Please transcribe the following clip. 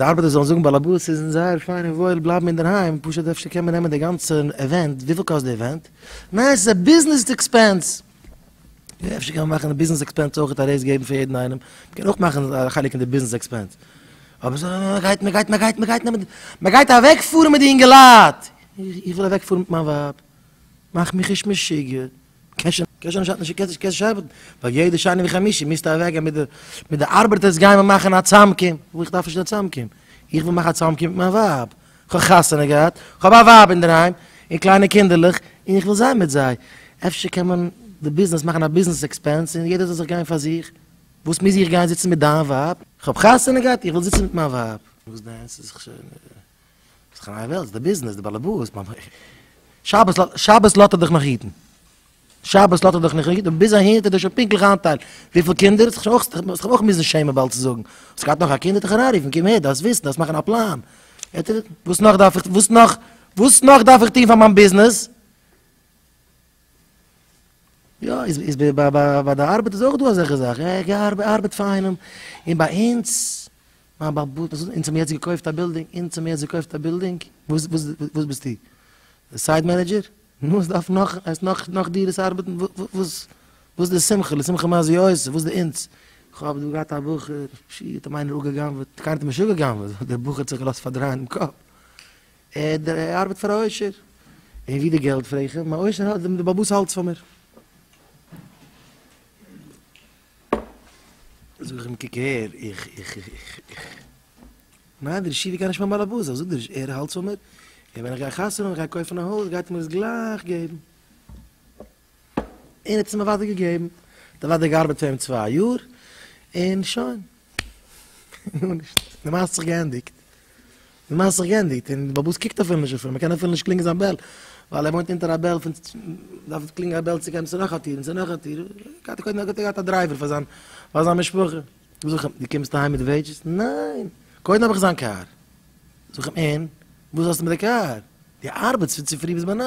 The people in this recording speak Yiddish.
די ארבעטער זאלן זאגן באלעבאס ס'איז אונז זייער פיין און וואויל בלייבן אינדערהיים, פשוט אפשר קען מען נעמען די גאנצע עווענט, וויפיל קאסט די עווענט? ניין ס'איז א ביזנעס עקספענס! יא אפשר קען מען מאכן די ביזנעס עקספענס אויך א רעיז געבן פאר יעדן איינעם, מ'קען אויך מאכן א חלק אין די ביזנעס עקספענס, אבער ס'איז א מ'גייט מ'גייט מ'גייט מ'גייט נעמען די מ'גייט אוועקפארן מיט די אינגעלייט! איך וויל אוועקפארן מיט מיין ווייב, מאך מיך נישט משוגע! קען שוין נישט האלטן די קעסט קעסט שבת ווייל יעדע שני וחמישי מיסטע אוועק גיין מיט די מיט די ארבערטערס גיין מיר מאכן א צאמקום וואו איך דארף נישט קיין צאמקום איך וויל מאכן א צאמקום מיט מיין ווייב כ'האב חתונה געהאט כ'האב א ווייב אינדערהיים און קליינע קינדערלעך און איך וויל זיין מיט זיי אפשר קען מען די ביזנעס מאכן א ביזנעס עקספענס און יעדער זאל זיך גיין פאר זיך וואס מוז איך גיין זיצן מיט דיין ווייב כ'האב חתונה געהאט איך וויל זיצן מיט מיין ווייב וואס דען ס'איז זיך שוין ס'איז חניי וועלטס, די ביזנעס, די באלעבאס, מיין הויז. שבת לאט, שבת לאט ער דיך נאך היטן. שבת לאט ער דיך נאך היטן, און ביז אהין האט ער דיר שוין פונקטליך איינטיילט וויפיל קינדער, האסט זיך שוין אויך, האסט זיך אויך מוזן שעמען באלד צו זאגן, האסט געהאט נאך א קינד, ער האט דיך אריינגערופן, קום הער, דארפסט וויסן, דארפסט מאכן א פלאן. וואס נאך דארף איך, וואס נאך, וואס נאך דארף איך טון פאר מיין ביזנעס? יא, איז ביי די ארבעט איז אויך דא אזעלכע זאכן, ער גייט ארבעט פאר איינעם, און ביי אונז, מיין בעל הבית, אונז האמיר יעצט געקויפט א בילדינג, אונז האמיר יעצט געקויפט א בילדינג, וואס וואס ביסטו? די סייט מענעדזשער? נו, עס דארף נאך, עס נאך נאך דירות ארבעטן, וואס וואס די שמחה, לשמחה מה זה יעשה, וואס די אונז? כ'האב דא געהאט א בחור, שיט, האט אים איינער אפגע'גנב'עט, קיינער האט אים נישט אפגע'גנב'עט, דער בחור האט זיך געלאזט פארדרייען דעם קאפ. עד דער ער ארבעט פאר א עושר און ווי די געלט פרעג איך אים א עושר האט די באבוס האלטס פאר מיר זאג איך אים קוק הער איך איך איך איך ניין דער ישיבה קען נישט מיין באלעבאס אזוי זאגט דער ער האלטס פאר מיר און ווען איך גיי חתונה און איך גיי קויפן א הויז גייט ער מיר עס גלייך געבן. און האט עס אים אוודאי געגעבן, האט אוודאי געארבעט פאר אים צוויי יאר, און שוין. גארנישט. די מעשה האט זיך געענדיגט. די מעשה האט זיך געענדיגט, און די באבוס קוקט אפילו נישט אויף אים, מען קען אפילו נישט קלינגען זיין בעל, ווייל ער וואוינט אונטער א בעל פון, דארף קלינגען א בעל צו גיין צו נאך א טיר און צו נאך א טיר, האט ער קודם געהאט א דרייווער פאר זיין, פאר זיין משפחה. זאג איך אים, דו קומסט אהיים מיט וועידזשעס? ניין! קודם האב איך זיין קאר. זאג איך אים, און? וואס האסטו מיט די קאר? דו ארבעטסט פון צופרי ביז ביינאכט.